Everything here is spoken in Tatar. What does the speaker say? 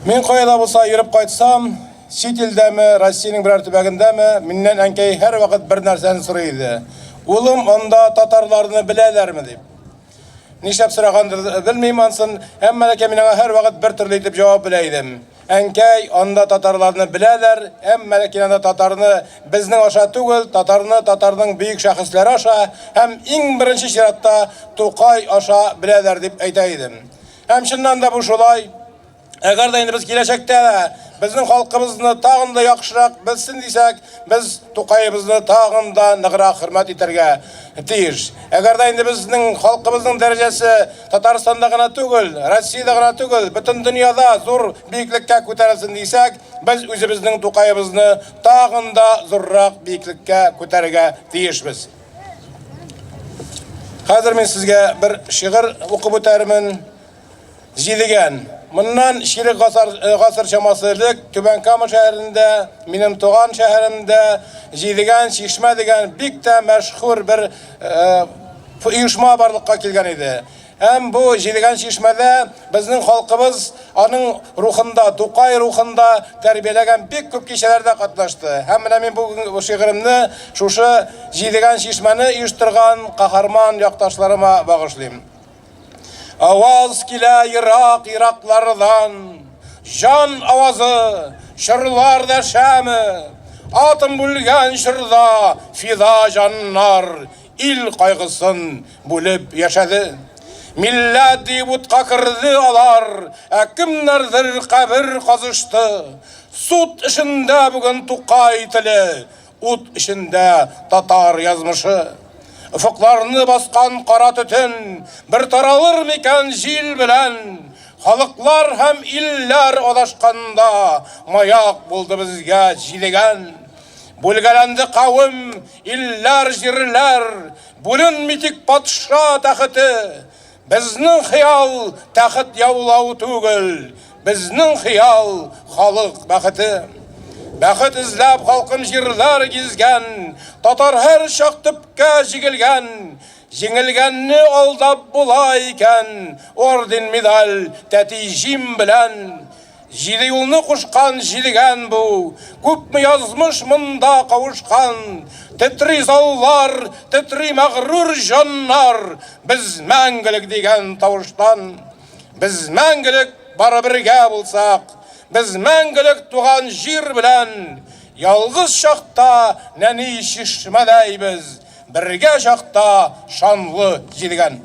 Мин кая да булса йөреп кайтсам, чит илдәме, Россиянең берәр төбәгендәме, миннән әнкәй һәрвакыт бер нәрсәне сорый иде. Улым, анда татарларны беләләрме дип. Нишләп сорагандыр белмим ансын, әмма ләкин мин аңа һәрвакыт бер төрле итеп җавап бирә идем. Әнкәй, анда татарларны беләләр, әмма ләкин анда татарны безнең аша түгел, татарны татарның бөек шәхесләре аша һәм иң беренче чиратта Тукай аша беләләр дип әйтә идем. Һәм чыннан да бу шулай. Әгәр дә инде без киләчәктә дә безнең халкыбызны тагын да яхшырак белсен дисәк, без Тукаебызны тагын да ныграк хөрмәт итәргә тиеш. Әгәр дә инде безнең халкыбызның дәрәҗәсе Татарстанда гына түгел, Россиядә гына түгел, бөтен дөньяда зур биеклеккә күтәрелсен дисәк, без үзебезнең Тукаебызны тагын да зуррак биеклеккә күтәрергә тиешбез. Хәзер мин сезгә бер шигырь укып үтәрмен. Җилеген. Моннан ширек гасыр, э, гасыр чамасы элек Түбән Кама шәһәрендә, минем туган шәһәремдә Җилеген чишмә дигән бик тә мәшһүр бер э, оешма барлыкка килгән иде. Һәм бу җилегән чишмәдә безнең халкыбыз аның рухында, Тукай рухында тәрбияләгән бик күп кичәләрдә катнашты. Һәм менә мин бу шигыремне шушы җилегән чишмәне оештырган каһарман якташларыма багышлыйм. Аваз килә ерак ераклардан, Җан авазы, чорлар дәшәме? Атым үлгән чорда фида җаннар, Ил кайгысын бүлеп яшәде. Милләт диеп утка керде алар, ә кемнәрдер кабер казышты. Суд эшендә бүген Тукай теле, ут эчендә татар язмышы. Офыкларны баскан кара төтен, бер таралыр микән җил белән? Халыклар һәм илләр адашканда, маяк булды безгә җидегән. Бүлгәләнде кавем. Илләр җирләр бүленми тик патша тәхете, Безнең хыял тәхет яулау түгел, Безнең хыял халык бәхете. Бәхет эзләп халкым җирләр гизгән, Татар һәрчак төпкә җигелгән, Җиңелгәнне алдап була икән, Орден-медаль, тәти җим белән. Җиде юлны кушкан җилегән бу, Күпме язмыш монда кавышкан. Тетри заллар, тетри мәгърур җаннар, Без мәңгелек дигән тавыштан. Без мәңгелек бары бергә булсак, Без мәңгелек туган җир белән. Ялгыз чакта нәни чишмәдәйбез, Бергә чакта шанлы җилегән.